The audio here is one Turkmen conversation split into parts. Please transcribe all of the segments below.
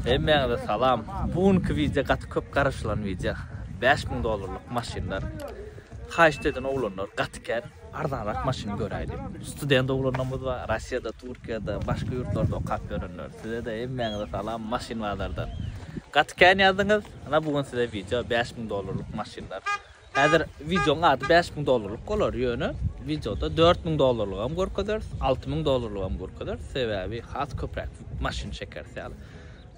Hemmäňize salam. Bu günki wideo gaty köp garaşylan wideo. Bäş müň dollarlyk maşynlar. Haýyşt eden oglanlar gaty kän. Arzanrak maşyn göräýdi. Student oglanlarymyz bar. Russiýada, Türkiýede, başga ýurtlarda okap ýörenler. Size-de hemmäňize salam maşyn bazardan. Gaty kän ýazdyňyz. Ana bu gün size wideo bäş müň dollarlyk maşynlar. Häzir wideoň ady bäş müň dollarlyk bolar, ýöne wideoda dört müň dollarlygam görkezeris, alty müň dollarlygam görkezeris, sebäbi has köpräk maşyn çekeris ýaly.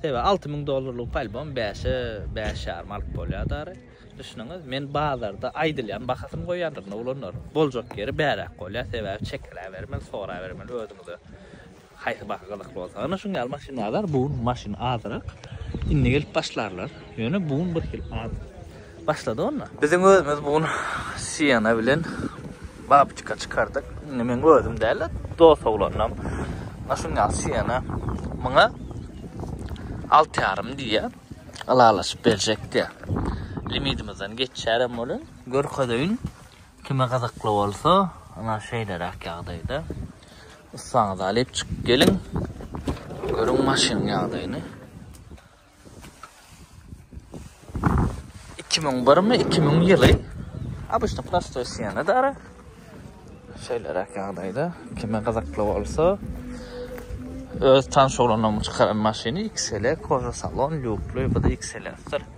Sebäbi alty müň dollarlygy polybom bäşe, bäş ýarym alyp bolýar dary. Düşüniňiz, men bazarda aýdylýan bahasyny goýýandyr, indi olanlaryň boljak ýeri bäräk bolýar, sebäbi çekiläbermeli, sorabermeli özüňize. Haýsy baky gyzykly bolsa ana şuň ýaly maşyn bazar bu gün maşyn azyrak indi gelip başlarlar ýöne bu gün bir hili az başlady onda. Biziň özümiz bu gün Siena bilen Babçika çykardyk indi meň özüm däl-de dos oglanam ana şuň ýaly Siena muňa alty ýarym diýýär ylalaşyp berjek diýýär limidimizden geçýärem welin görkezeýin kime gyzykly bolsa ana şeýleräk ýagdaýda. Yssaňyzy alyp çykyp geliň. Görüň maşynyň ýagdaýyny. Iki müň birmi, iki müň ýyly. Abyşny prostoý siýene dara. Şeýleräk ýagdaýda. Kime gyzykly bolsa, öz tanşy oglanlaryň çykaran maşyny XL, koža salon, lýukly, bu-da XL-dir.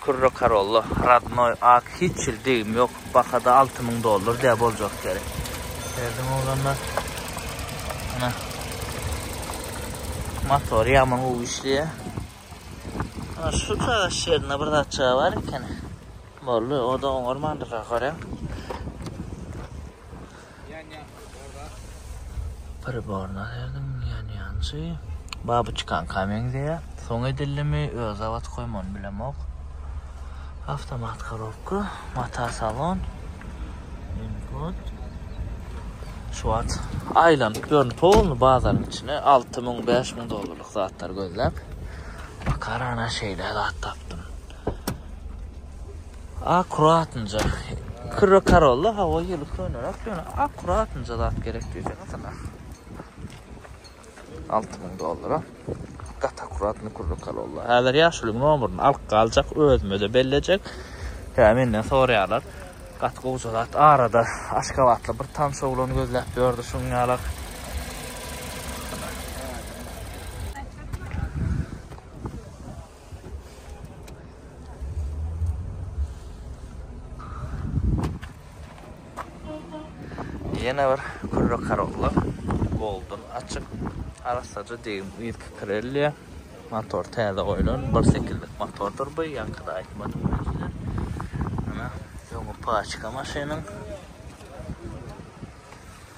Kürre Karolla Radnoý ak hiç hil degim ýok bahada alty müň dollar dä boljak gerek Berdiň oglanlar Ana Motory ýaman gowy işleýä Ana şu çagaş ýerinde bir zat çyga bar ekeni Boldy o da oňarmandyr gaharem. Priborna derdim ýanýançy. Baby çykanka meňzeýä. Soň edildimi, öz zawodkoýmy ony bilemok. Awtomat korobka, mata salon. Input. Şu wagt aýlanyp ýörün polny bazaryň içine 6000 5000 dollarlyk zatlar gözläp. Bakarana şeýle zat tapdym. Akkuratynja. Kyrra karolla hawa ýyly könerak ýöne akkuratynja zat gerek diýseň sana. 6000 dollara. Gat akkuratny kyrra karolla. Häzir ýaşulyň nomerini alyp galjak, özüme-de bellejek. Hä, menden soraýarlar. Gat gowja zat. Arada aşgabatly bir tanyş oglan gözläp ýördi şuň ýalak. Ýene bir kürre karollar. Golden açyk. Arasaja degim yz kirelýär. Motor täze goýlan. 1.8-lik motordyr bu. Ýaňkyda aýtmadym men size. Ana, öňi paçka maşynyň.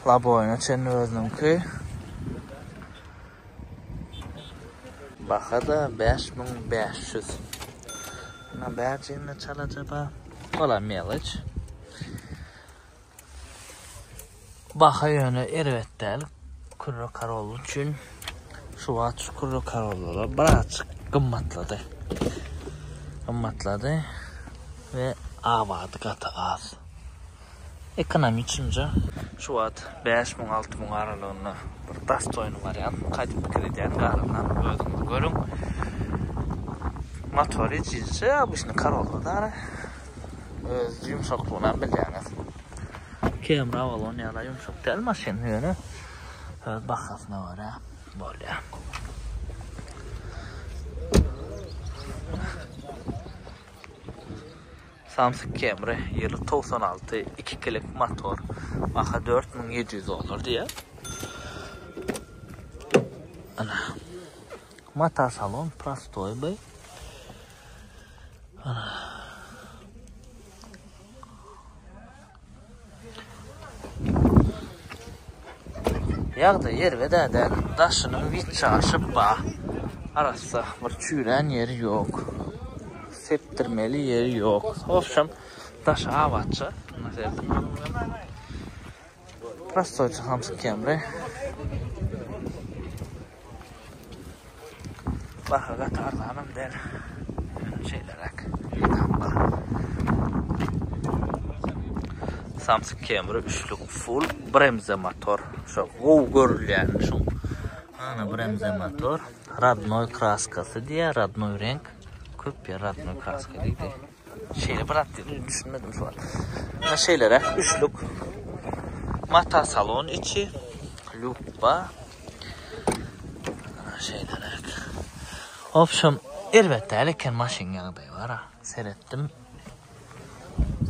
Laboýna çenli özüniňki. Baha-da bäş müň bäş ýüz. Muňa bärjeginde çalaja bar. Ola meloç. Baha ýöne erbet däl. Kürre karol üçin. Şu wagt şu kürre karollara birazjyk gymmatlady. Gymmatlady. Ve avady gaty az. Ekonomi üçinje. Şu wagt bäş müň alty müň aralygynda bir dastoýny wariantmy gaýdyp pikir edýän garaşan özüňiz görüň. Motory icicje obysnyý Corolla dara öz ýumşaklygynam bilýäňiz. Camry Avalon ýaly ýumşak däl maşyn ýöne öz bahasyna görä bolýa. Samsyk Camry, ýyly togsan alty, iki kilik motor, baha dört müň ýedi ýüz dollar diýýär. Ana. Mata salon prostoý by. Ana. Ýagdaý erbet-ä däl. Daşynyň witçe aşyp ba. Arassa bir çüýrän ýeri ýok. Sepdirmeli ýeri ýok. Obşem, daşy abatja. Prostoýça hamsykýan bi. Baha gaty arzanam däl. Şeýleräk. Samsung Camry üçlük full bremze motor. Şu gow görülýän şu. Ana bremze motor. Radnoy kraskasy diýä, radnoy renk. Köp ýer radnoy kraska diýdi. Şeýle bir at düşünmedim şu an. Ha şeýlere üçlük. Mata salon içi. Lupba. Şeýlere. Opşum elbetde elken maşyn ýagdaýy bar ha. Seretdim.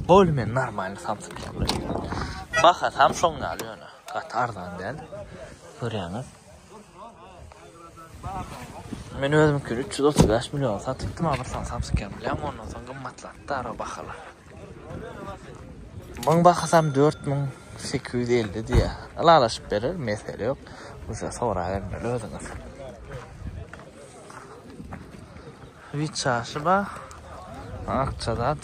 Bolmen normal samsyk ýagdaýy. Baha samşon ýaly ýöne. Gat arzan däl. Görýäňiz. Men özüm ki 335 milyon satypdym ama sen sapsy kem bilen ondan soň gymmatlatdy ara bahalar. Muň bahasam 4850 diye. Alalaşyp berer mesele yok. Uşa sora bermeli özüňiz. Wit çaşy bar. Akja zat.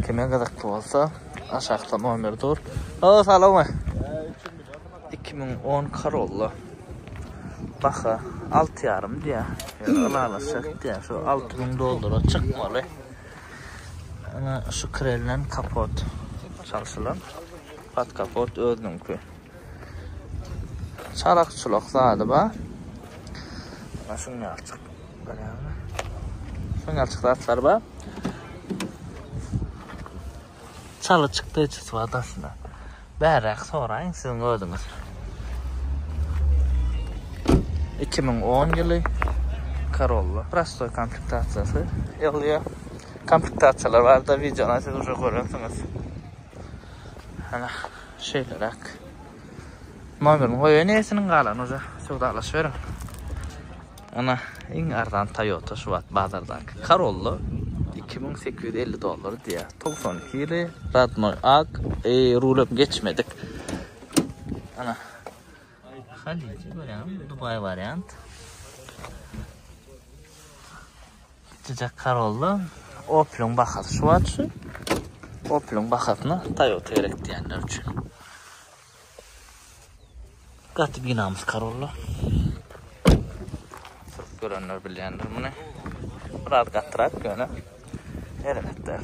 Kime gyzykly bolsa, aşakda nomer dur. Halo, salowmy? 2010 Corolla. Baha 6,5 diýär. Ylalaşak diýär. Şu 6000 dollara çykmaly. Ana şu krelden kapot çalşylan. Pat kapot özüniňki. Çarak çulak zady ba. Ana şun ýalçyk. Görýäňmi? Şun ýalçyk zatlar ba. Çaly çykdy çyt wadasyna. Bäräk soraýyň siziň özüňiz. 2010 ýyly Corolla prostoy komplektasiýasy ýaglyýar. Komplektasiýalar barada wideony siz uje görensiňiz. Ana. Şeýleräk. Nomerini goýaýyn esiniň galany uja söwdalaş beriň. Ana iň arzan Toyota şu wagt bazardaky Corolla 2850 dollar diýýär. 92 ýyly radnoý ak, e, rulem geçmedik. Ana Haliji görýäňmi? Dubaý wariant. Jijek Corolla Opel-iň bahasy şu wagt şu. Opel-iň bahasyna Toyota gerek diýenler üçin. Gaty binamys Corolla. Sürüp görenler bilýändir muny. Biraz gatyrak ýöne erbet däl.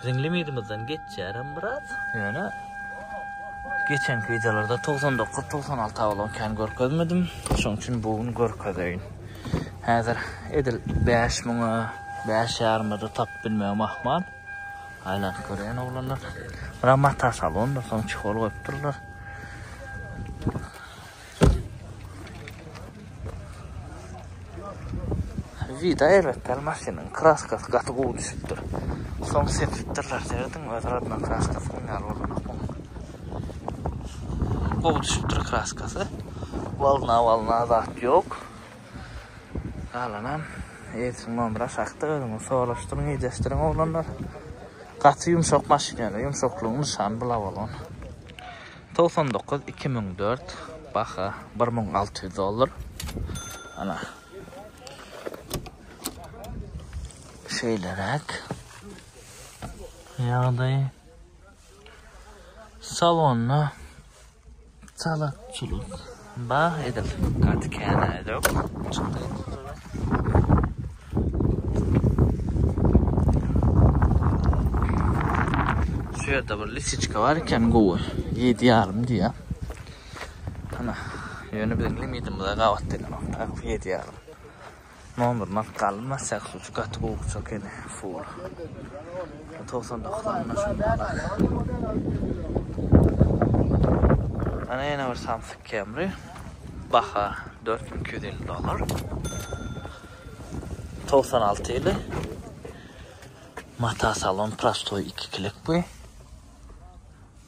Biziň limidimizden geçýärem biraz. Ýöne geçenki wideolarda togsan dokuz, togsan alty awlon kän görkezmedim. Şonuň üçin bu gün görkezeýin. Häzir edil bäş müňe, bäş ýarymada tapyp bilmegim ahmal. Aýlanyp görýän oglanlar. Bura mata salondyr, soň çehol goýupdyrlar. Vida elbetde maşynyň kraskasy gaty gowy düşüpdir. Soň sepipdirler serdin öz radman kraskasy ýaly bolmak. Gowy düşüpdir kraskasy. Walna walna zat ýok. Galanam Eýsin Mamra şahta özüňi soruşdyryň, ýedeşdiriň oglanlar. Gaty ýumşak maşyn ýaly, ýumşaklygyň nyşany bula bolan. Togsan dokuz iki müň dört baha bir müň alty ýüz dollar. Ana. Şeýleräk. Ýagdaý. Salonda çalakçylyk. Bah edil gaty känä edok çykdy suda. Şu ýerde bir lisiçka bar eken gowy. 7 ýarym diýä. Ana, ýöne biziň limidimize gabat diýlen. Taýyk 7 ýarym. Nomerini alyp galym basjak şu şu gaty gowy uçak ekeni full. 99 anna şunu alak. Ana ýene bir Samsung Camry. Baha 4250 dollar. 96 ýyly. Mata salon prostoy 2 kilik bu.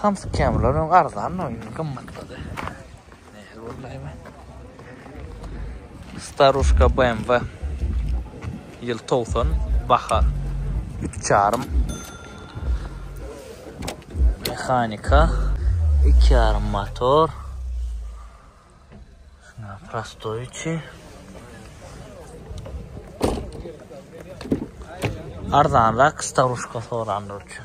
Samsyk kämileriň öň arzandy, indi gymmatlady. Nähili boldy hem-ä? Starushka BMW. Ýyl togsan, baha üç ýarym. Mehanika, iki ýarym motor. Şuna prostoy içi. Arzanrak staruşka soranlar üçin.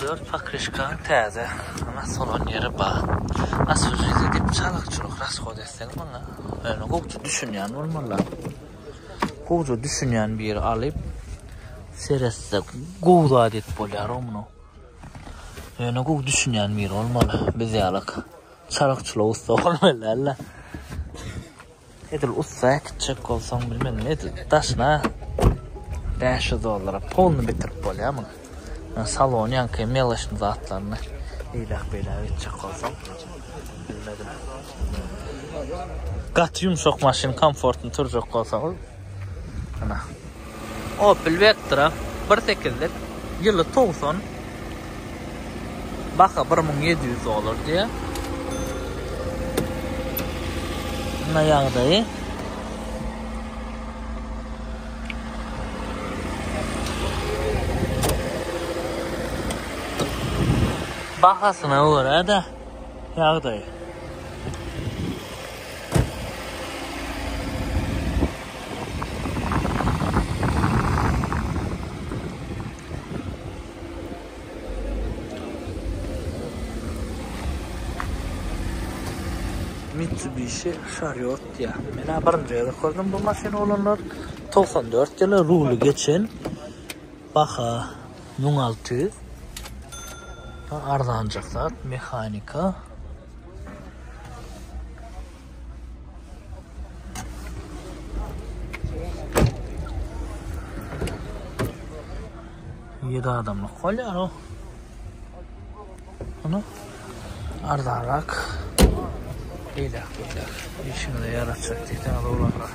Dört pokrişkaň täze, ana solan ýeri ba. Asfžyzy diýip çalykçylyk rasgod etseň muňa, ýöne gowja düşünýän bolmalyda. Gowja düşünýän biri alyp seretse gowy zat edip bolýar o muny. Ýöne gowy düşünýän biri bolmaly, biz ýalak çalykçylyga ussa bolmaly dälde. Edil ussa äkitjek bolsaň bilmedim edil daşyna bäş ýüz dollara polny bitirip bolýar muny. Ýa salony ýaňky meleşni zatlaryny eýläk beýläk etjek bolsaň bilmedim. Gaty ýumşak maşyn komfortny turjak bolsaňyz. Ana. Opel Vectra 1.8-lik ýyly towson. Baha 1700 dollar diýýär. Ana ýagdaýy. Bahasyna görä-de ýagdaýy. Mitsubishi Chariot diýýär. Menä birinji gezek gördüm bu maşyny olanlar. 94 ýyly ruly geçen. Baha müň alty ýüz. Arzanjak zat, mehanika. Ýedi adamlyk bolýar o. Ana. Arzanrak. Beýle, beýle. Işiňize ýaraşjak diýseň, olara.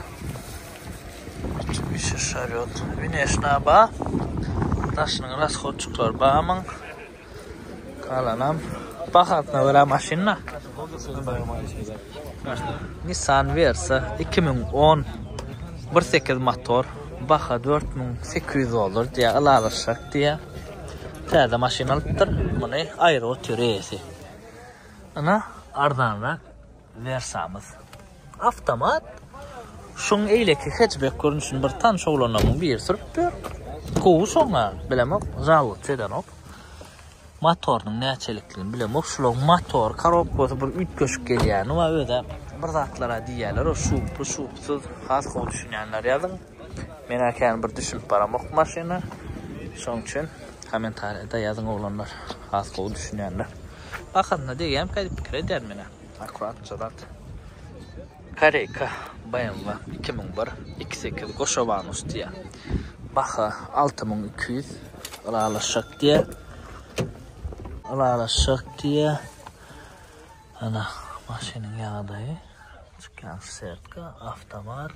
Üçinjisi şaryot. Wineşna ba. Daşynyň rashodçyklary bamyň. Galanam bahasyna görä maşynda. Nissan Versa 2010 1.8 motor. Baha 4800 dollar diýä ylalaşak diýä. Täze maşyn alypdyr. Muny aýry otyr eýesi. Ana arzanrak. Wersamyz. Awtomat. Şuň eýleki hetchbek görnüşini bir tanyş oglanlarmyň biri sürüpdir. Gowy şoňa, bilemok, žalowt edenok. Motorynyň näçelikdigini bilemok. Şulaň motor korobkasy bir üýtgeşik gelýäni bar özä. Bir zatlara diýýärler-ow, şuply, şupsyz, has gowy düşünýänler ýazyň. Men-ä kän bir düşünip baramok bu maşyna. Şoň üçin kommentariýada ýazyň oglanlar, has gowy düşünýänler. Bahasyna degýämi ka diýip pikir edýärin menä. Akuratja zat. Koreyka BMW iki müň bir iki sekiz goşawanus diýýä. Baha alty müň iki ýüz. Ylalaşjak diýýä. Ylalaşjak diýýä. Ana maşynyň ýagdaýy. Çykýan sertka, awtomat.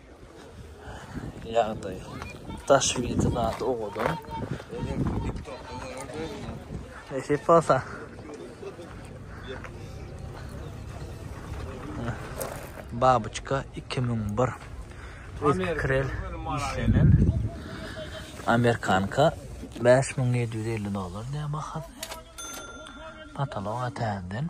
Ýagdaý. Daş wide zat owadan. Nesip bolsa. Babuçka 2001. Krel işlenen. Amerikanka 5750 dolar diýen baha. Pataloga täzeden.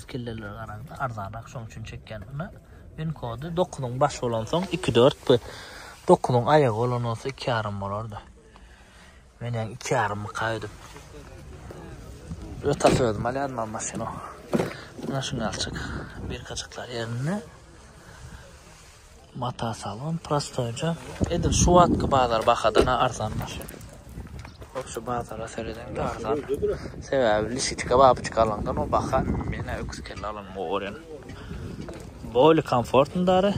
Kelleleri garaňda arzanrak şoň üçin çekýän ina win kody dokuzyň başy bolan soň iki dört bu dokuzyň aýagy bolan bolsa iki ýarym bolardy men ýaň iki ýarym myka ödüp öta sözüm alýan mam maşyny mana şuňalçyk birkaçyklar ýerinde Mata salon prostoýja. Edil şu wagtky bazar bahadan-a arzan maşyn. Hop şu bazara seredeňde arzan. Sebäbi lisitika babyçka alaňdan o baha men-ä öküz kelle alanyma gorýan. Bolly komfortny dary.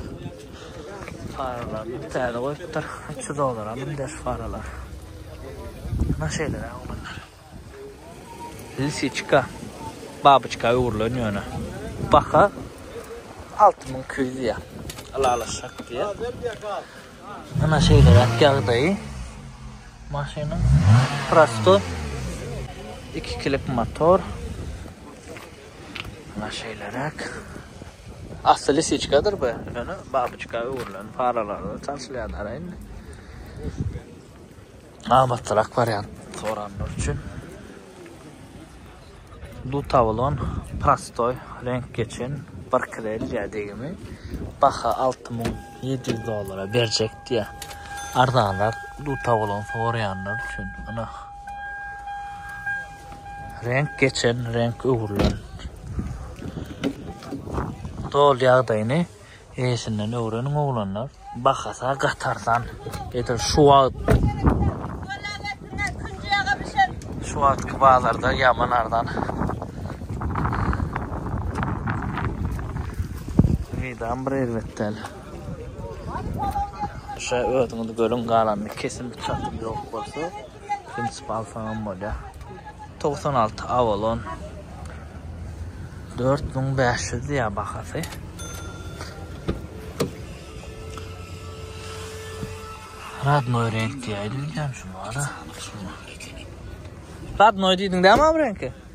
Faralaryny täze goýupdyr. Üç ýüz dollara münde şu faralar. Ynha şeýleräk oglanlar. Lisiçka babyçka öwrülen ýöne. Baha alty müň iki ýüz diýýär. Ylalaşjak diýýär. Ana şeýleräk ýagdaýy maşynyň. Prosto iki kilik motor. Ana şeýleräk. Asly lisiçkadyr bu, ýöne babyçka öwrülen paralaryna çalşylýar dara indi. amatlyrak wariant soranlar üçin Dutawlon prostoý reňk geçen bir kreliýa degimi baha 6700 dollara berjek diýä. Arzanrak Dutawlon soraýanlar üçin ana reňk geçen reňk öwrülen dol ýagdaýyny Eýesinden öwreniň oglanlar. Bahasa gatarsan. Edil şu wagt. Şu wagtky bazarda ýaman arzan. Meýdan bir erbet däl. Şa özüňiz görüň galanyny kesin bir çatym ýok bolsa. Prinsip alsaňam bolýa. 96 Avalon. 4500 diýýär bahasy. Radnoy renk diýýär. Diýýän şu bana. Radnoy diýdiň dämi bu renki?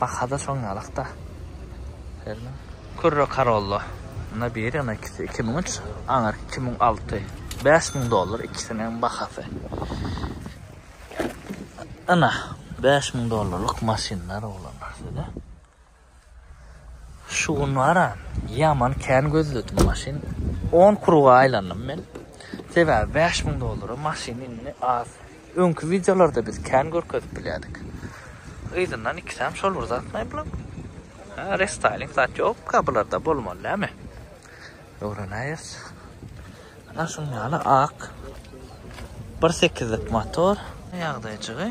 Baha-da şoň ýalak-da. Serme. Kürre Corolla. Ynha biri, ynha ikisi. Iki müň üç, aňyrky iki müň alty. Bäş müň dollar ikisiniň bahasy. Ynha, bäş müň dollarlyk maşynlar, oglanlar, size. Şu gün bar-a, ýaman kän gözledim maşyn. On kruga aýlandym men. Sebäbi bäş müň dollara maşyn indi az. Öňki wideolarda biz kän görkezip bilýädik. Yzyndan ikisem şol bir zatmy bulam? Ha, restyling zat ýokka bularda bolmaly näme? Öwrenäýeris. Ana şuň ýaly ak. 1.8-lik motor. Ýagdaýjygy.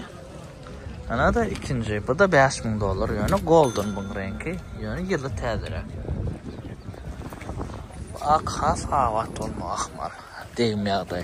Ana-da ikinji. Bu-da 5000 dollar. Ýöne golden buň reňki. Ýöne ýyly täzeräk. Ak has abat bolmagy ahmal. Degim ýagdaý.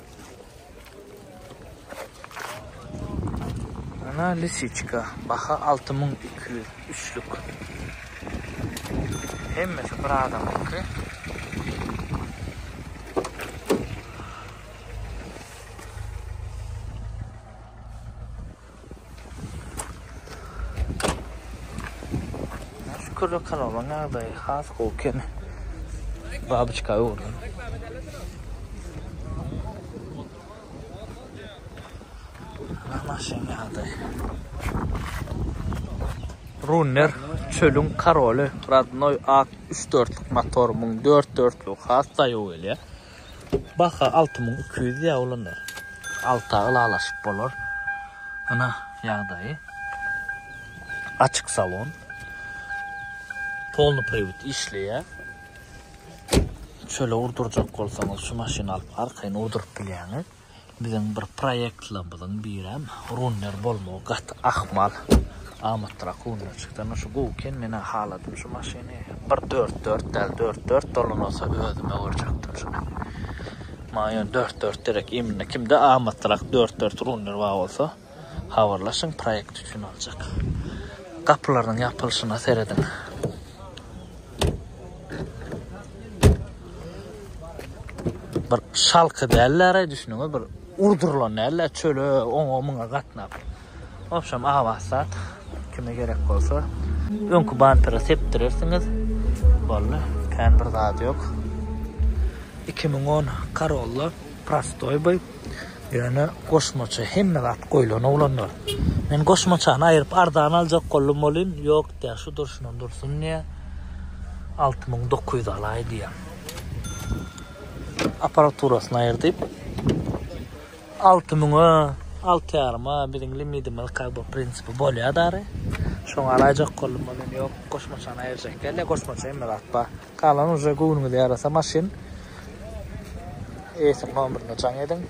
Ana lisiçka, baha 6200, üçlük. Hemmesi bir adamyňky. Kürre kanalyň ýagdaýy has gowy eken. Babyçka gördüm. Maşyn ýagdaýy. Runner çölüň karoly, radnoy ak 3-4 luk motor, 1000 4-4 luk has daýaw gelýär. Baha alty müň iki ýüz diýýär olanlar. Alta ylalaşyp bolar. Ynha, ýagdaýy. Açyk salon. Polny priwd işleýär. Çöle urdurjak bolsaňyz, şu maşyny alyp, arkaýyn urduryp bilýäňiz. Biziň bir proýektlerimiziň birem runner bolmagy gaty ahmal. Amatlyrak runner çyksa ine şu gowy eken menä haladym şu maşyny bir dört dört däl dört dört dolanylsa özüm öwürjekdim şuny. Maňa ýöne dört dört derek imine kimde amatlyrak dört dört runner bar bolsa. Habarlaşyň proýekt üçin aljak gapylarynyň ýapylyşyna serediň. Bir şalky dällere düşünüňiz bir urdurylan näle çöle oňa muňa gatnap. Obşam abat zat kime gerek bolsa öňki bampere sepdirersiňiz. Boldy. Kän bir zat ýok. 2010 Corolla prostoý bu. Ýöne goşmaça hemme zat goýlan oglanlar. Men goşmaçany aýryp arzan aljak boldum welin ýok diýýär şu durşuna dursun diýýär. Alty müň dokuz ýüz alaý diýýär. Aparaturasyny aýyr diýip. Alty müňe, alty ýaryma biziň limidimiz kak bu prinsipi bolýar dary. Şoňa alaýjak boldum welin ýok goşmaçany aýyrjak dälde goşmaça hemme zat bar. Galan uje göwnüňize ýarasa maşyn. Eýesiň nomerini jaň ediň.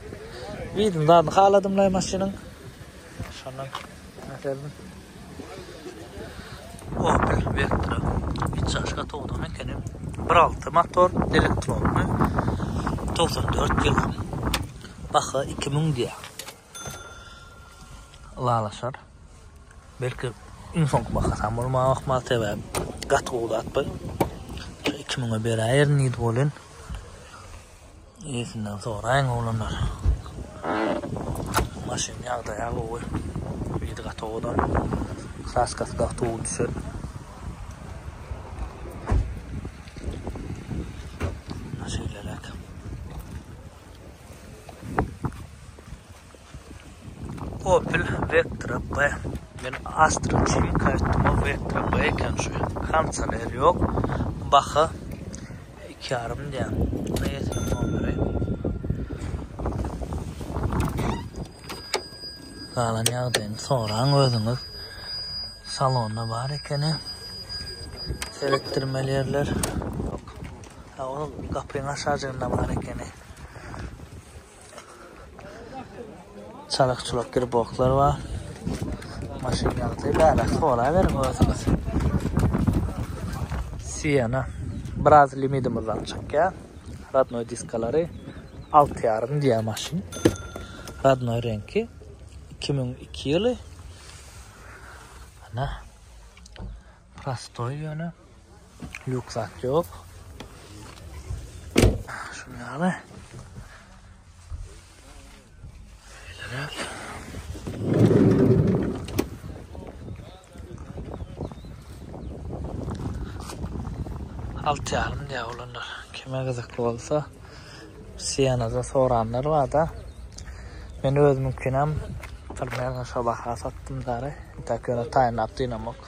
Widin zadyny haladymlaý maşynyň. Şondan näserdim. Opel Vectra. Içaşka towdan ekenim. 1.6 motor, elektronly. 94 ýyl. Baha 2000 diýýär. ylalaşar. Belki iň soňky bahasam bolmaga ahmal sebäp gaty gowy zat bu. 2000'e beräýerin diýdi bolin. Ýesinden soraýyň oglanlar. Maşyn ýagdaýa gowy. Ýedi gaty owadan. Kraskasy gaty gowy düşer. Şeýleräk. Opel Vectra B. Men Astra üçin kaýtdyma Vectra B eken şu ýerde. Kondisioner ýok. Baha 2,5 diýen. Buna ýetilen bolmary. Galan ýagdaýyny soraň özüňiz. Salonda bar ekeni. Seretdirmeli ýerler. Ýok. Ol gapyň aşajygynda bar ekeni. Çalyk çulak griboklar bar. Maşyn ýagty bära soraberiň özüňiz. Siena. Biraz limidimizden çykýa. Radnoy diskalary 6 ýarym diýä maşyn. Radnoy renki 2002 ýyly. Ana. Prostoý ýöne. Lýuk zat ýok. Şunu ýaly. Alt ýalym diýär olanlar. Kime gyzykly bolsa, Sienada soranlar bar-da. Men özümünkinem Primera şo baha satdym dary. Intäk ýöne taýynlap dynamok.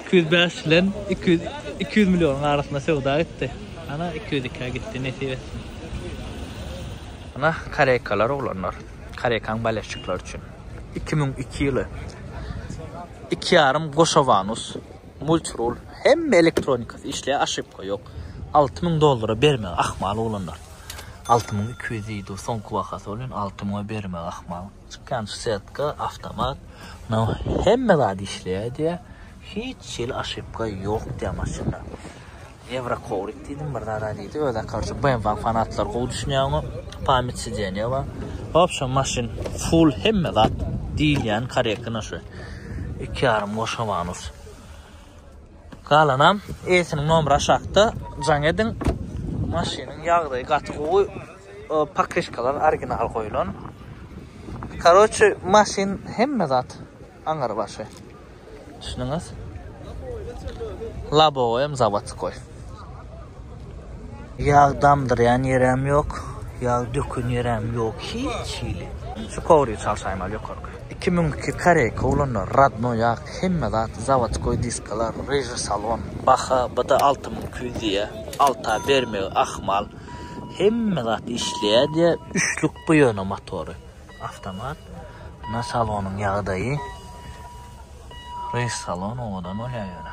Iki ýüz bäş bilen iki ýüz iki ýüz millionyň arasynda söwda gitdi. Ana, iki ýüz ikä gitdi, nesip etsin. Ana, kareýkalar, oglanlar. Kareýkaň baleşçiklary üçin. Iki müň iki ýyly. Iki ýarym goşawanus, multirul, hemme elektronikasy işleýär, oşypka ýok. Alty müň dollara bermegi ahmal, oglanlar. Alty müň iki ýüz diýdi, soňky bahasy bolýan, alty müňe bermegi ahmal. Çykýan setka awtomat no hemme zat işleýär diýýä hiç hili aşypka ýok diýýä maşynda ewro kowrik diýdim bir zada diýdi öze korçe bmw fanatlary gowy düşünýäňo pamyt sideniýa bar wobşem maşyn full hemme zat diýilýän korektno şu iki ýarym goşawanus. Galanam eýesiniň nomeri aşakda jaň ediň. Maşynyň ýagdaýy gaty gowy. Pakyşkalar original goýulan. Karoçe maşyn hemme zat aňyr başy. Düşündiňiz? Labowyam zawodskoý. Ýag damdyrýan ýeräm ýok, ýag döken ýeräm ýok hiç hili. Şu kowry çalşaýmaly ýokarky. Iki müň iki koreýka ulanda radno ýag hemme zat zawodskoý diskalar ryžy salon. Baha bda alty müň iki ýüz diýýä alta bermegi ahmal hemme zat işleýä diýýä üçlük bu ýöne motory awtomat mna salonyň ýagdaýy ryž salon owadan bolýa ýöne.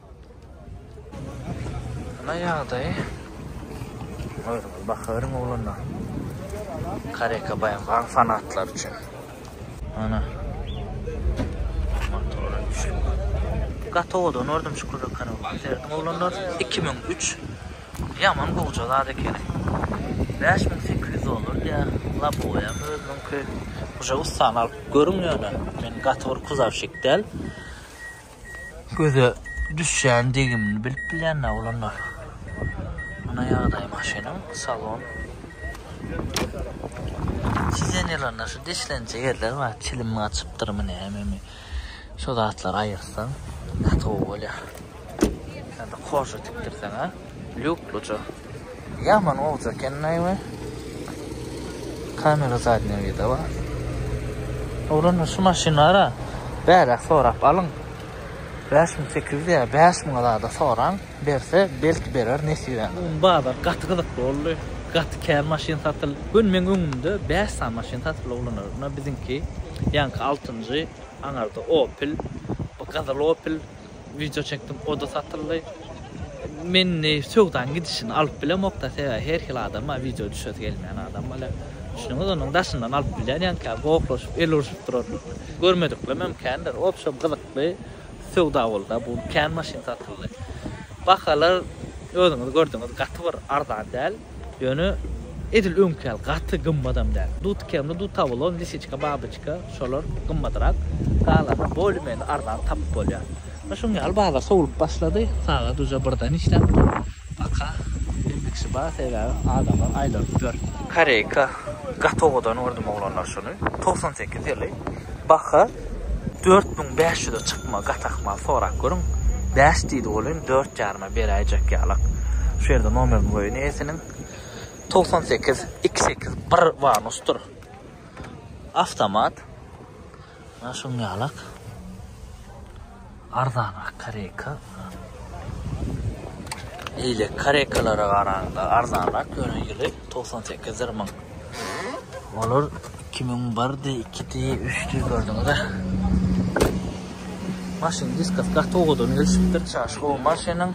Ana ýagdaýy. Görüň, bakaryň ogluna. Kareka baýam gaň fanatlar üçin. Ana. Motor üçin. Gatowadan ordum şu kuzakany. Serdim oglanlar 2003. Ýaman gowja zat ekeni. 5800 dollar diýär. Laboýa özüniňki. Uja ustan alyp görüň ýöne. Men gator kuzavşik däl. göze düşýän degimini bilip bilýänler olanlar. Muna ýagdaý maşynyň salon. Sidenýalarynda şu deşlenje ýerler bar, çilim gaçypdyrmy nämemi. Şu zatlary aýyrsaň gaty gowy bolýar. Ýa-da koža tikdirseň-ä lýukluja. Ýaman gowja ekennaý we kamera zadnyýa vida bar. Oglanlar şu maşynlara bäräk sorap alyň. Bäş müň sekiz ýüz ýa bäş müňe zada soraň, berse belki berer nesibäňize. Bu gün bazar gaty gyzykly boldy. Gaty kän maşyn satyldy. Bu gün meň öňümde bäş sany maşyn satyldy oglanlar. Ynha biziňki, ýaňky altynjy, aňarda Opel, bu gyzyl Opel, Wideo çekdim oda satyldy. Men söwdaň gidişini alyp bilemokda sebäbi her hil adama wideo düşesi gelmeýän adam bolýar. Düşüniňiz onuň daşyndan alyp bilýän ýanka gohlaşyp el urşup durarlar. Görmediklem hem kändir. Obşem gyzykly söwda bolda bu kän maşyn satyldy. Bahalar özüňiz gördüňiz gaty bir arzan däl. Ýöne edil öňki ýaly gaty gymmadam däl. Dut kremli, dut awulon, lisiçka, babyçka, şolar gymmadyrak. Galanyny bolumeni arzan tapyp bolýar. Ýöne şuň ýaly bazar sowlup başlady. Sagat uje birden işläpdir. Baka bilmekçi bar, sebäbi adamlar aýlanypdyr. Koreýka gaty owadan gördüm oglanlar şuny. Togsan sekiz ýyly. Baha dört müň bäş ýüze çykma gat ahmal sorap görüň. Bäş diýdi welin dört ýaryma beräýjek ýalak. Şu ýerde nomerini goýun eýesiniň. Togsan sekiz, iki sekiz bir vanusdyr. Awtomat. Mana şuň ýalak. Arzanrak kareka. Eýle karekalara garanda arzanrak ýöne ýyly togsan sekizdir müň. Olar iki müň birdi, ikidi, üçdi gördüňiz-ä. Maşyn diskas gaty owadan gelşipdir. Çaş gowy maşynyň.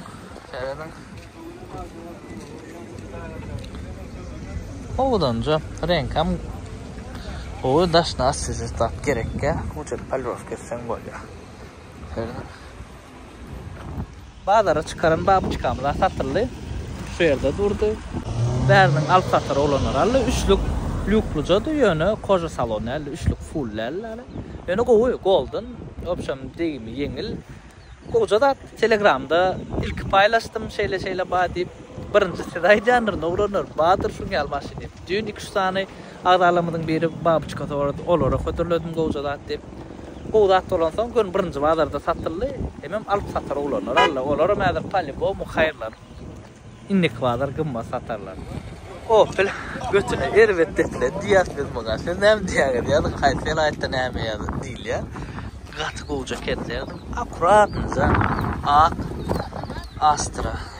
Serediň. Owdanja reňkam gowy daşna assisistat gerekkä, uçur palrow kesseň bolýar. Bazara çykaran babuçkamyz-a satyldy. Şu ýerde durdy. Bäriniň alyp satar oglanlary aldy. Üçlük lýuklujady, ýöne koja salon däldi, üçlük full däldi ýaly. Ýöne gowy, golden, obşem degimi ýeňil. Gowja zat. Telegramda ilki paýlaşdym, şeýle-şeýle bar diýip. Birinji siz aýdýandyr, oglanlar, bardyr şuň ýaly maşyn diýip. Düýn iki-üç sany Agzalarymyzyň biri babuçka sorady. Olara hödürledim gowja zat diýip. Gowy zat bolansoň, göni birinji bazarda satyldy. Hemem alyp satar oglanlar aldy. Olaram häzir polýubomu haýyrlar. Indiki bazar gymmat satarlar. Opel götüne erbet depilen diýýäs biz muňa. Siz näme diýýäňiz? Ýazyk haýsy welaýatda näme ýazyp diýilýär. Gaty gowja eken derdim. Akuratnyja ak Astra.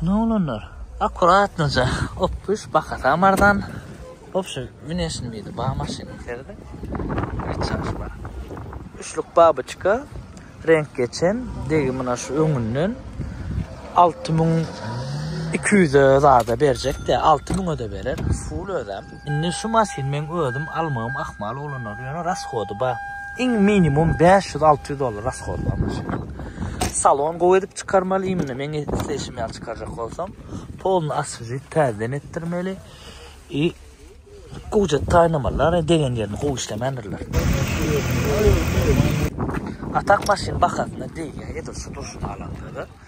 Hany oglanlar. Akuratnyja ok düş bahasam arzan. Wobşem minesin biri bar maşynyň içeride. Hiç çaşy bar. Üçlük babyçka reňk geçen degi muna şu öňünden alty müň iki ýüze zada berjekdä alty müňe-de berer ful özem. Indi şu maşyny meň özüm almagym ahmal bolanar, ýöne rashody bar. Iň minimum bäş ýüz, alty ýüz dollar rashody bar maşynyň. Salon gowy edip çykarmaly, imенно meň isleýşim ýaly çykarjak bolsam. Polny oswežit, täzeden etdirmeli. I gužet taýynlamalylar, degen ýerini gowy işlemändirler. A tak maşyn bahasyna degýär, edil şu durşuna alanda-da.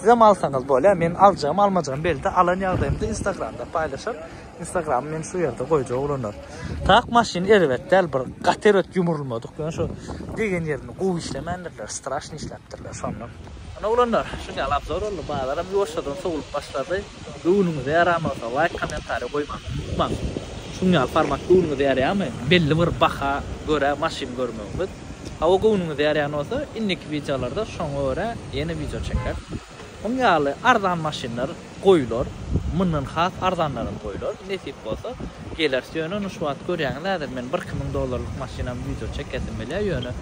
Sizem alsaňyz bolýa meň aljagym almajagym belli alan ýagdaýymda instagramda paýlaşar instagramy men şu ýerde goýjak oglanlar tak maşyn erbet däl bir gaty erbet ýumrulmadyk ýöne şu degen ýerini gowy işlemändirler straşny işläpdirler şondan Ana oglanlar şuň ýaly abzor boldy bazaram ýuwaşjadan sowlup başlady göwnüňize ýaran bolsa laýk kommentariý goýmagy unutmaň şuň ýaly format göwnüňize ýarýamy belli bir baha görä maşyn görmegimiz Hawa göwnüňiz ýarýan bolsa indiki wideolarda şoňa görä ýene wideo çekeris. Muň ýaly arzan maşynlar goýular, mundan has arzanlaram goýular. Nesip bolsa geleris ýöne ony şu wagt görýäňiz häzir men birki müň dollarlyk maşynam wideo çekesim bilýär ýöne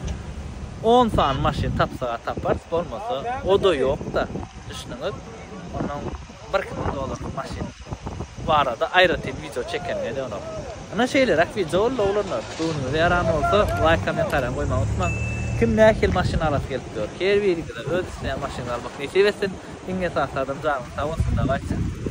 on sany maşyn tapsaga taparys bolmasa oda ýokda düşnüňiz onnoň Birki müň dollarlyk maşyn barada aýratyn wideo çeken nedenok. Ynha şeýleräk wideo boldy oglanlar. Göwnüňize ýaran bolsa laýk kommentariýa goýmagy unutmaň. Kim nähili maşyn alasy gelip ýör. Her biriňize öz isleýän maşynyňyzy almak nesip etsin. Iň esasy adam janyňyz sag bolsun dawaýçy.